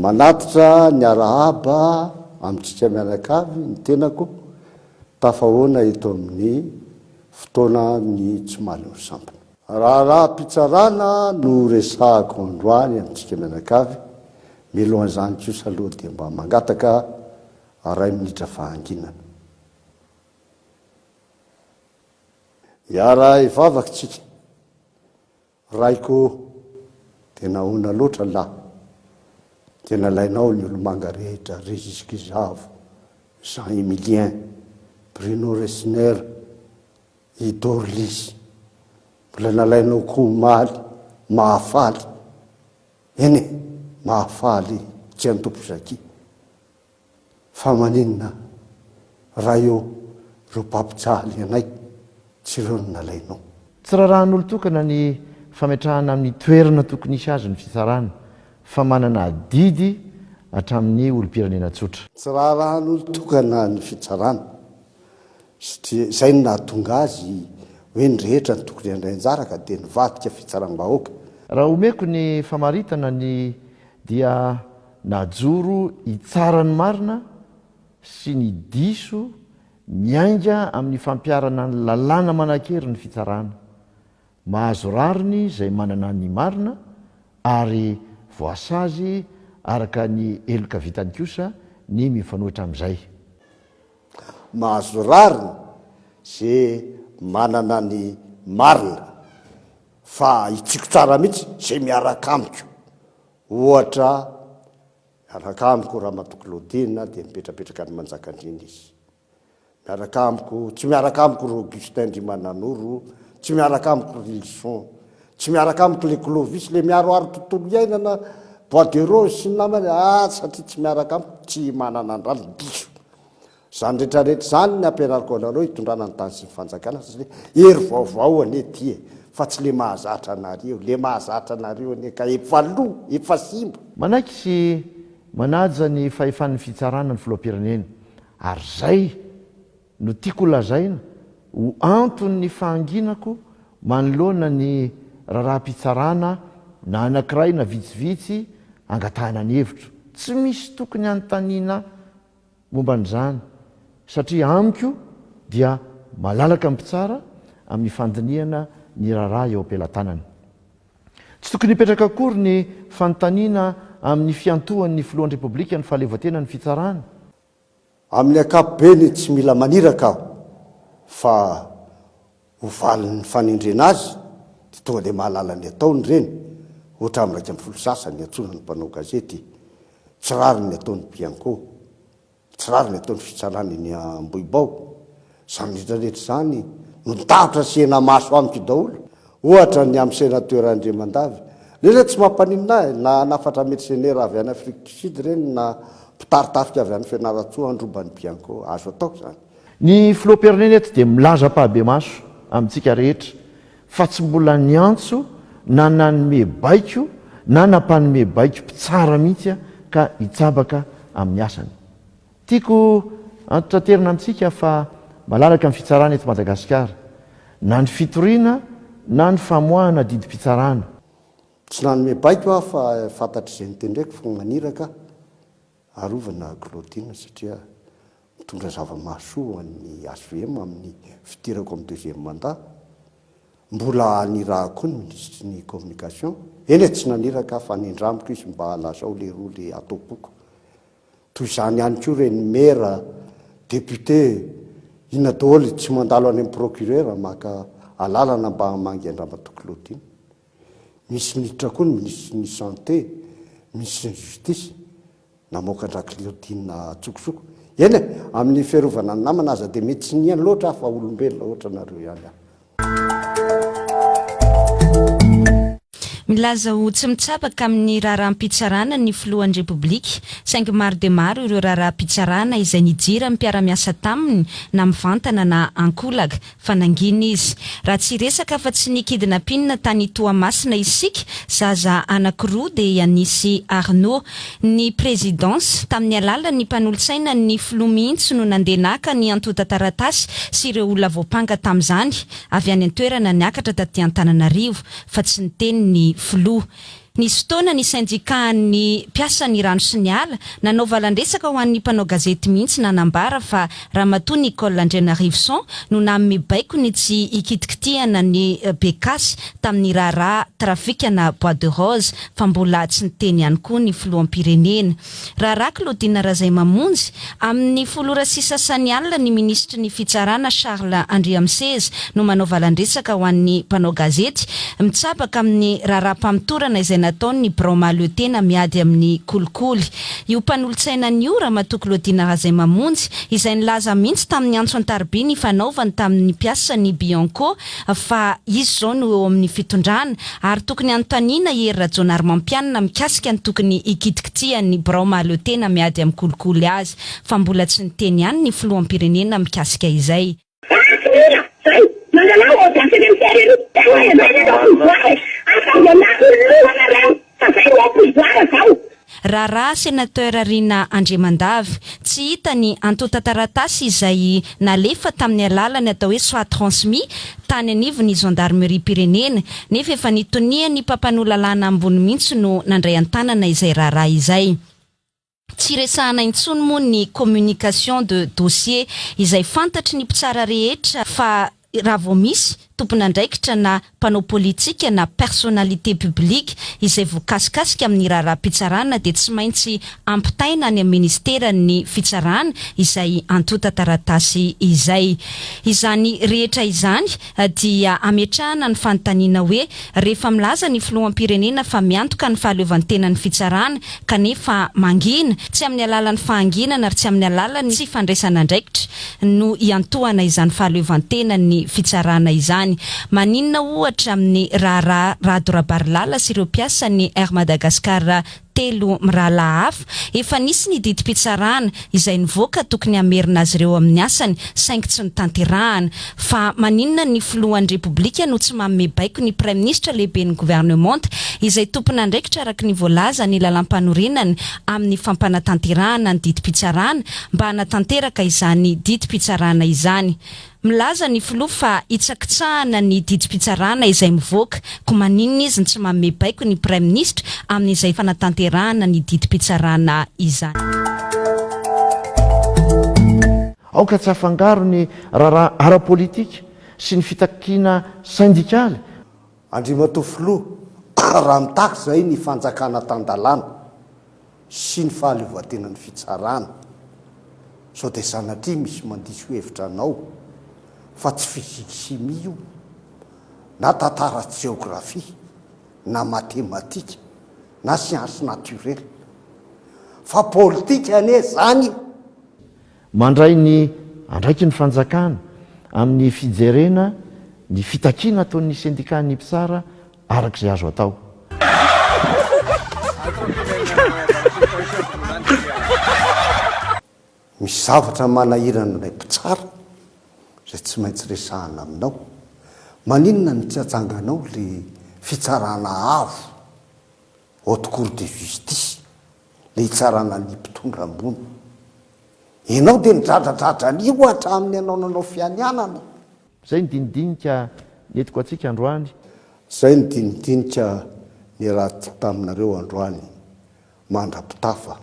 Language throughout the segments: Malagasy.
Manatitra ny arahaba amintsika mianakavy ny tenako tafahoana eto amin'ny fotoana ny tsy mahaleo sampona. Raharaham-pitsarana no resahako androany amintsika mianakavy, milohan'izany kosa aloha dia mba mangataka ray minitra fahanginana. Hiara hivavaka isika. Raiko o, dia nahoana loatra lahy, dia nalainao ny olomanga rehetra, Régis Gizavo, Jean Emilien, Bruno Resner, i Dorlys, mbola nalainao koa omaly, Mahafaly, eny e, Mahafaly, Tsiantompozakia. Fa maninona raha eo ireo mpampijaly anay tsy ireo no nalainao? Tsy rarahan'olon-tokana ny fametrahana amin'ny toerana tokony hisy azy ny fitsarana fa manana adidy hatramin'ny olom-pirenena tsotra. Tsy rarahan'olon-tokana ny fitsarana satria izay no nahatonga azy hoe ny rehetra no tokony handray anjara ka dia nivadika fitsaram-bahoaka. Raha omeko ny famaritana ny dia Najoro hitsara ny marina sy ny diso miainga amin'ny fampiharana ny lalàna manan-kery ny fitsarana. Mahazo rariny izay manana ny marina ary voasazy araka ny heloka vitany kosa ny mifanohitra amin'izay. Mahazo rariny izay manana ny marina fa hitsiko tsara mihitsy izay miaraka amiko. Ohatra, miaraka amiko Ramatoa Claudine dia mipetrapetraka any Manjakandriana izy. Miaraka amiko, tsy miaraka amiko ry Augustin ndry Mananoro, tsy miaraka amiko ry Lison, tsy miaraka amiko ilay Clovis, ilay miaroaro tontolo iainana, bois de rose sy ny namany, ah, satria tsy miaraka amiko, tsy manana andrano, diso. Izany rehetra rehetra izany ny ampianariko anareo hitondrana ny tany sy ny fanjakana satria hery vaovao anie ity e! fa tsy le mahazatra anareo, le mahazatra anareo anie ka efa lo, efa simba. Manaiky sy manaja ny fahefan'ny fitsarana ny filoham-pirenena ary izay no tiako lazaina ho anton'ny fahanginako manoloana ny raharaham-pitsarana na anankiray na vitsivitsy angatahana ny hevitro. Tsy misy tokony hanontaniana momba an'izany satria amiko dia malalaka ny mpitsara amin'ny fandinihana ny raharaha eo am-pelatanany. Tsy tokony hipetraka akory ny fanontaniana amin'ny fiantohan'ny Filohan'ny Repoblika ny fahaleovantenan'ny fitsarana. Amin'ny ankapobeny tsy mila maniraka aho fa ho valin'ny fanendrena azy dia tonga dia mahalala ny ataony ireny, ohatra amin'ny iraika ambin'ny folo sasa niantsoana ny mpanao gazety, tsy rariny ny ataon'i Bianco, tsy rariny ny ataon'ny fitsarana eny Ambohibao, izany rehetra rehetra izany no nitambatra sy henamaso amiko daholo, ohatra ny amin'ny Sénateur Andriamandavy, ireny re tsy mampaninona ahy, na hanafatra mercenaires avy any Afrique du Sud ireny na mpitartafika avy any Fianarantsoa handroba an'i Bianco, azo atao izany. Ny Filoham-pirenena eto dia milaza am-pahabemaso amintsika rehetra fa tsy mbola niantso na nanome baiko na nampanome baiko mpitsara mihitsy ka hitsabaka amin'ny asany. Tiako antontanterina amintsika fa malalaka ny fitsarana eto Madagasikara, na ny fitoriana na ny famoahana didim-pitsarana. Tsy nanome baiko aho fa fantatr'izay notendreko fa maniraka aho. Arovana Claudine satria mitondra zava-mahasoa ho an'ny HVM amin'ny fidirako amin'ny deuxième mandat. Mbola anirahako koa ny Minisitry ny Communication, eny e tsy naniraka aho fa nindramiko izy mba lazao lehiroa le ataom-poko. Toy izany ihany koa ireny Maire, Député, inona daholo tsy mandalo any amin'ny Procureur maka alalana mba hamangy an-dRamatoa Claudine. Misy miditra koa ny minisitry ny Santé, minisitry ny Justice, namoaka an-dra-Cliodine antsokosoko. Eny e, amin'ny fiarovana ny namana aza dia mety tsy nihaino loatra aho fa olombelona ohatra anareo ihany aho. Milaza ho tsy mitsabaka amin'ny raharaham-pitsarana ny filohan'ny Repoblika, saingy maro dia maro ireo raharaham-pitsarana izay nijiran'ny mpiara-miasa taminy na mivantana na ankolaka. Fa nangina izy. Raha tsy hiresaka afa-tsy ny kidnapin tany Toamasina isika, zaza anankiroa dia nisy Arnaud. Ny Présidence, tamin'ny alalan'ny mpanolotsaina ny Filoha mihitsy no nandeha naka ny antontan-taratasy sy ireo olona voampanga tamin'izany, avy any an-toerana niakatra taty Antananarivo, fa tsy niteny ny Filoha. Nisy fotoana ny sendikàn'ny mpiasan'ny rano sy ny ala nanao valan-dresaka ho an'ny mpanao gazety mihitsy nanambara fa Ramatoa Nicole Andrianarivison no nanome baiko ny tsy hikitinkitihana ny Becas tamin'ny raharaha trafikana Bois de Rose fa mbola tsy niteny ihany koa ny filoham-pirenena. Raharaha Claudine Razaimamonjy, amin'ny folo ora sy sasany alina ny minisitry ny Fitsarana Charles Andriamiseza no manao valan-dresaka ho an'ny mpanao gazety mitsabaka amin'ny raharaham-pamotorana izay nataon'ny birao mahaleotena miady amin'ny kolikoly io mpanolotsainany io Ramatoa Claudine Razaimamonjy izay nilaza mihitsy tamin'ny antso an-tarobia ny fanaovany tamin'ny mpiasan'ny Bianco fa izy izao no eo amin'ny fitondrana ary tokony hanontaniana i Hery Rajaonarimampianina mikasika ny tokony hikitikitihan'ny birao mahaleo tena miady amin'ny kolikoly azy fa mbola tsy niteny ihany ny filoham-pirenena mikasika izay. Manamarina fa ny filoha Andry Rajoelina Fa zay le pouvoir zao. Raharaha Senateur Rina Andriamandavy, tsy hita ny antontan-taratasy izay nalefa tamin'ny alalan'ny atao hoe soit transmis tany anivon'ny Zandarimeriam-pirenena, nefa efa nitonian'ny mpampanoa lalàna ambony mihitsy no nandray an-tanana izay raharaha izay. Tsy resahana intsony moa ny communication de dossier izay fantatry ny mpitsara rehetra fa raha vao misy tompon'andraikitra na mpanao politika na personnalité publique izay voakasikasika amin'ny raharaham-pitsarana dia tsy maintsy ampitaina any amin'ny ministeran'ny fitsarana izay antontan-taratasy izay. Izany rehetra izany dia ametrahana ny fanontaniana hoe, rehefa milaza ny filoham-pirenena fa miantoka ny fahaleovantena ny fitsarana kanefa mangina, tsy amin'ny alalan'ny fahanginana ary tsy amin'ny alalan'ny tsy fandraisana andraikitra no iantohana izany fahaleovantenan'ny fitsarana izany, maninona ohatra amin'ny raharaha Rado Rabarilala sy ireo mpiasan'ny Air Madagascar telo mirahalahy hafa, efa nisy ny didim-pitsarana izay nivoaka tokony hamerina azy ireo amin'ny asany saingy tsy notanterahana. Fa maninona ny filohan'ny Repoblika no tsy manome baiko ny Praiminisitra lehiben'ny Governemanta izay tompon'andraikitra araka ny voalaza ny Lalàmpanorenana amin'ny fampanatanterahana ny didim-pitsarana mba hanatanteraka izany didim-pitsarana izany? Milaza ny filoha fa hitsakitsahana ny didim-pitsarana izay mivoaka, koa maninona izy no tsy manome baiko ny praiminisitra amin'izay fanatanterahana ny didim-pitsarana izany. Aoka tsy hafangaro ny raharaha ara-politika sy ny fitakiana sendikaly. Andriamatoa Filoha, raha mitaky izay ny fanjakana tan-dalàna sy ny fahaleovantenan'ny fitsarana, sao dia sanatria misy mandiso hevitra anao fa tsy physique chimie io, na tantara sy jeografia, na matematika, na sciences naturelles, fa politika anie izany! Mandray ny andraikin'ny fanjakana amin'ny fijerena ny fitakiana ataon'ny sendikàn'ny mpitsara araka izay azo atao. Misy zavatra manahirana ilay mpitsara izay tsy maintsy resahana aminao. Maninona no tsy atsanganao ilay fitsarana avo, haute cour de justice? le hitsarana ny mpitondra ambony. Enao de nidradradradra an'io hatramin'ny anao nanao fianianana. Zay ny dinidinika nentiko antsika androany. Zay ny dinidinika niratiko taminareo androany mandra-pitafa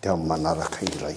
de amin'ny manaraka indray.